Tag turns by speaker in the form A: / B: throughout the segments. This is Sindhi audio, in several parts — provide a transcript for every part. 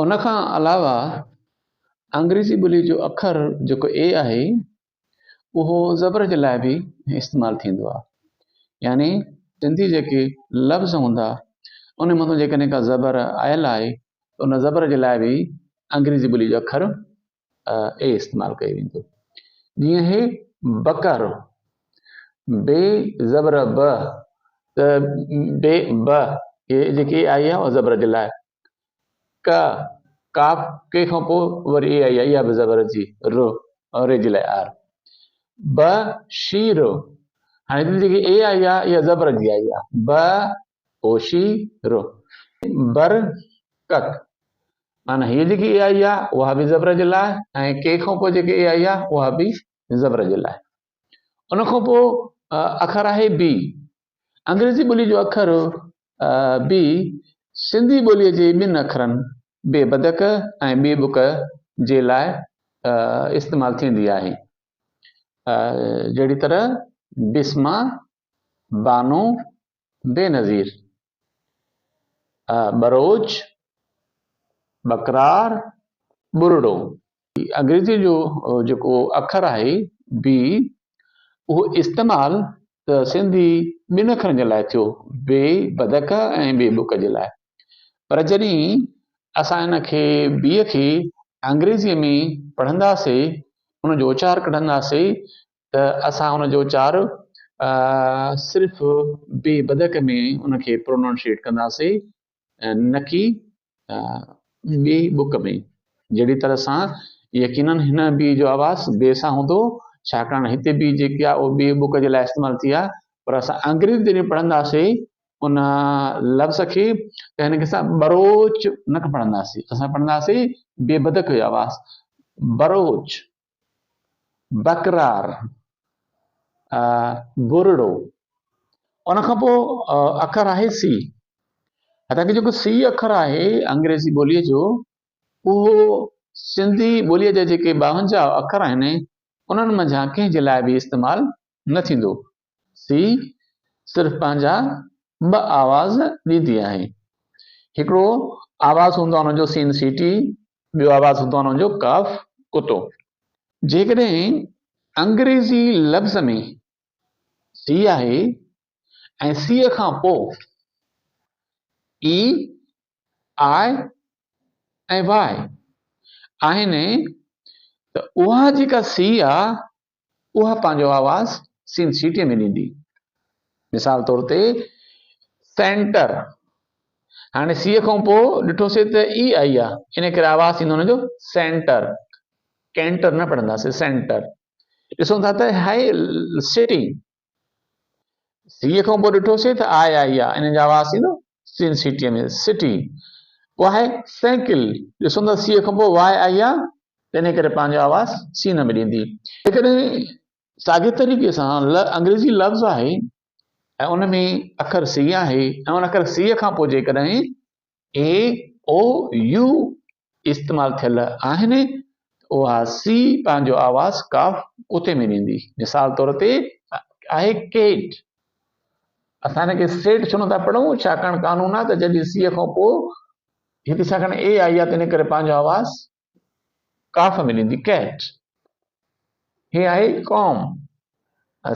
A: ان کان علاوه انگريزي ٻولي جو اکر جيڪو اي آهي اهو زبر جي لاء به استعمال ٿيندو آهي يعني سنڌي جيڪي لفظ هوندا ان مٿان جيڪڏهن ڪا زبر آيل آهي ان زبر جي لاء به انگريزي ٻولي جو اکر اي استعمال ڪيو ويندو جيئن هي بکارو بي زبر ب ته بي ب هي جيڪي آئي آهي اها زبر جي لاء ڪ ڪاف ڪي کان پوء وري اي آئي آهي اها به زبر جي رو ري جي لاء آر ب شي رو هاڻي هتي جيڪي اي آئي آهي اها زبر جي آئي آهي ب اوشي رو بر ڪڪ معنيٰ هيء جيڪي اي آهي آهي اها به زبر جي لاء ۽ ڪي کان پوء جيڪي اي آهي آهي اها به زبر جي لاء ان کان پوء اکر آهي بي انگريزي ٻولي جو اکر بي سنڌي ٻوليء جي ٻن اکرن بي بدڪ ۽ بي بڪ جي لاء استعمال ٿيندي آهي جهڙي طرح بسما بانو بينظير، ٻروچ، ٻڪرار، ٻرڙو. انگريزيء جو جيڪو اکر آهي بي اهو استعمال ته سنڌي ٻن اکرن جي لاء ٿيو، بي بدڪ ۽ بي بڪ جي لاء، پر جڏهن اسان ان کي بي کي انگريزيء ۾ پڙهنداسين، ان جو اچار ڪڍنداسين ته اسان ان جو اچار صرف بي بدڪ ۾ ان کي پروننشيٽ ڪنداسين نه ڪي بي بڪ ۾ جهڙي طرح سان يقينن هن بي جو آواز بي سان هوندو ڇاڪاڻ هتي بي جيڪي آهي اهو بي بڪ جي لاء استعمال ٿي آهي پر اسان انگريزي جڏهن پڙهنداسين ان لفظ کي ته هن کي اسان بروچ نه پڙهنداسين اسان پڙهنداسين بي بدڪ جو آواز بروچ بڪرار، گرڙو، ان کان پوء اکر آهي سي هتان کي جيڪو سي اکر آهي انگريزي ٻوليء جو اهو سنڌي ٻوليء جا جيڪي ٻاونجاهه اکر آهن انهن منجهان ڪنهن جي لاء به استعمال نه ٿيندو سي صرف پنهنجا ٻه آواز ڏيندي آهي. هڪڙو آواز هوندو آهي ان جو سين سي ٽي، ٻيو آواز هوندو آهي ان جو قاف ڪتو. جيڪڏهن انگريزي لفظ ۾ سي آهي ۽ سي کان پوء اي، آء ۽ واء آهن ته اها جيڪا سي آهي اها پنهنجو آواز سين سيٽيء ۾ ڏيندي. مثال طور تي، سينٽر. هاڻي سيء کان پوء ڏٺوسين ته اي آئي آ، ان ڪري آواز ٿيندو ان جو سينٽر. ڪينٽر نه پڙهنداسين، سينٽر. ڏسون ٿا ته هيء سٽنگ سيء کان پوء ڏٺوسين ته آء آهي آ ان جا واس ايندو سين سيٽيء ۾ سٽي پوء آهي فرينڪل ڏسندس سيء کان پوء واء آهي آ تنهن ڪري پنهنجو آواز سين ۾ ڏيندي جيڪڏهن ساڳي طريقي سان ل انگريزي لفظ آهي ۽ ان ۾ اکر سي آهي ۽ ان اکر سي کان پوء جيڪڏهن اي او يو استعمال ٿيل آهن اها سي پنهنجو آواز ڪاف ڪوتي ۾ ڏيندي مثال طور تي آهي ڪيٽ اسان هن کي سيٽ ڇو نٿا پڙهون ڇاڪاڻ قانون آهي ته جڏهن سي کان پوء هتي ڇاڪاڻ اي آئي آ تنهن ڪري پنهنجو آواز ڪاف ۾ ڏيندي ڪيٽ هي آهي قوم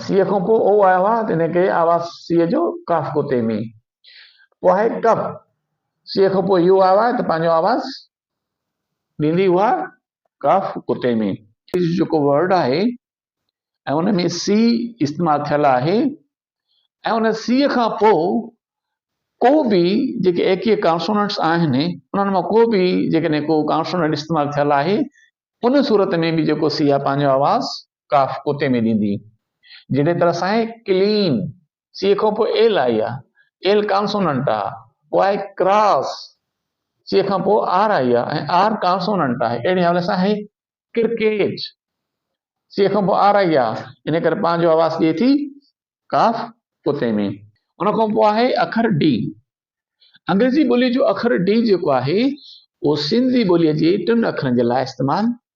A: سي کان پوء او آيو آ تنهن ڪري آواز سي جو ڪاف ڪوتي ۾ پوهائي ڪپ سيء کان پوء اهو آواز ته پنهنجو آواز ڏيندي اها ڪاف ڪتي ۾ جيڪو ورڊ آهي ۽ ان ۾ سي استعمال ٿيل آهي ۽ ان سيء کان پوء ڪو به جيڪي ايڪيهه ڪانسوننٽس آهن انهن مان ڪو به جيڪڏهن ڪو ڪانسوننٽ استعمال ٿيل آهي ان صورت ۾ به جيڪو سي آهي پنهنجو آواز ڪاف ڪتي ۾ ڏيندي جهڙي طرح سان ڪلين سيء کان پوء ايل آئي آ، ايل ڪانسوننٽ آ، پوء آهي ڪراس، سيء کان پوء آر آئي آ ۽ آر ڪانسوننٽ آهي، اهڙي حوالي سان هي ڪرڪيٽ، سيء کان پوء آر آئي آ، ان ڪري پنهنجو آواز ڏئي ٿي قاف ڪتي ۾. ان کان پوء آهي اکر ڊي، انگريزي ٻوليء جو اکر ڊي جيڪو آهي اهو سنڌي ٻوليء جي ٽن اکرن جي لاء استعمال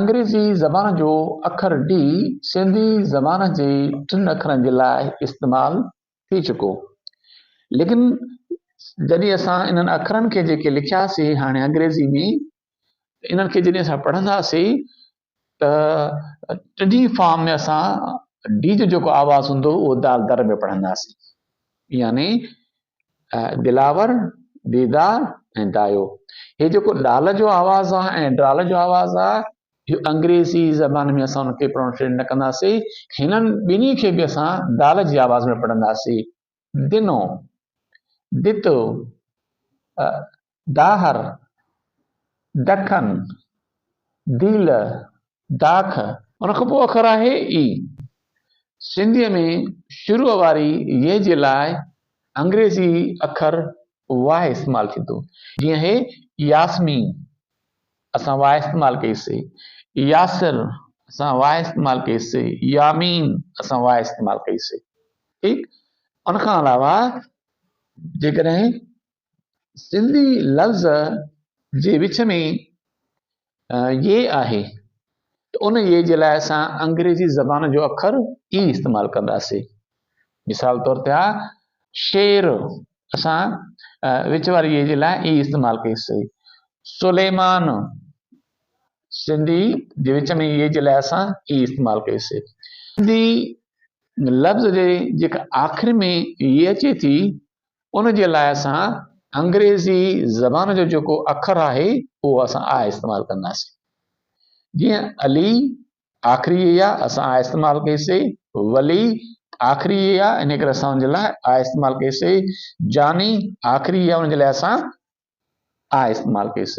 A: انگريزي زبان جو اکر D سنڌي زبان جي ٽن اکرن جي لاء استعمال ٿي چڪو ليڪن جڏهن اسان انهن اکرن کي جيڪي لکياسين هاڻي انگريزي ۾ انهن کي جڏهن اسان پڙهنداسين ته ٽنهي فارم ۾ اسان ڊي جو جيڪو آواز هوندو اهو دال در ۾ پڙهنداسين يعني دلاور، ديدار ۽ دايو. هي جيڪو ڊال جو آواز آ ۽ ڊال جو آواز آ اهو انگريزي زبان ۾ اسان ان کي پرونسيٽ نه ڪنداسين هنن ٻنهي کي به اسان ڊال جي آواز ۾ پڙهنداسين دنو دتو داهر، دکن، ديل، داک. ان کان پوء اکر آهي ئي. سنڌيء ۾ شروع واري يي جي لاء انگريزي اکر واء استعمال ٿيندو. جيئن اهي ياسمين، اسان واء استعمال ڪئي سي. ياسر، اسان واء استعمال ڪئي سي. يامين، اسان واء استعمال ڪئي سي. ٺيڪ. ان کان علاوه جيڪڏهن سنڌي لفظ جي وچ ۾ يه آهي ته ان يه جي لاء اسان انگريزي زبان جو اکر اي استعمال ڪنداسي مثال طور تي آ شير اسان وچ واري يه جي لاء اي استعمال ڪيسي سليمان سنڌي جي وچ ۾ يه جي لاء اسان اي استعمال ڪيسي سنڌي لفظ جي جيڪا آخر ۾ يه اچي ٿي ان جي لاء اسان انگريزي زبان جو جيڪو اکر آهي اهو اسان آء استعمال ڪنداسي جيئن علي آخري يا اسان آء استعمال ڪيسي ولي آخري يا ان ڪري اسان ان جي لاء آء استعمال ڪيسي جاني آخري يا ان جي لاء اسان آء استعمال ڪيسي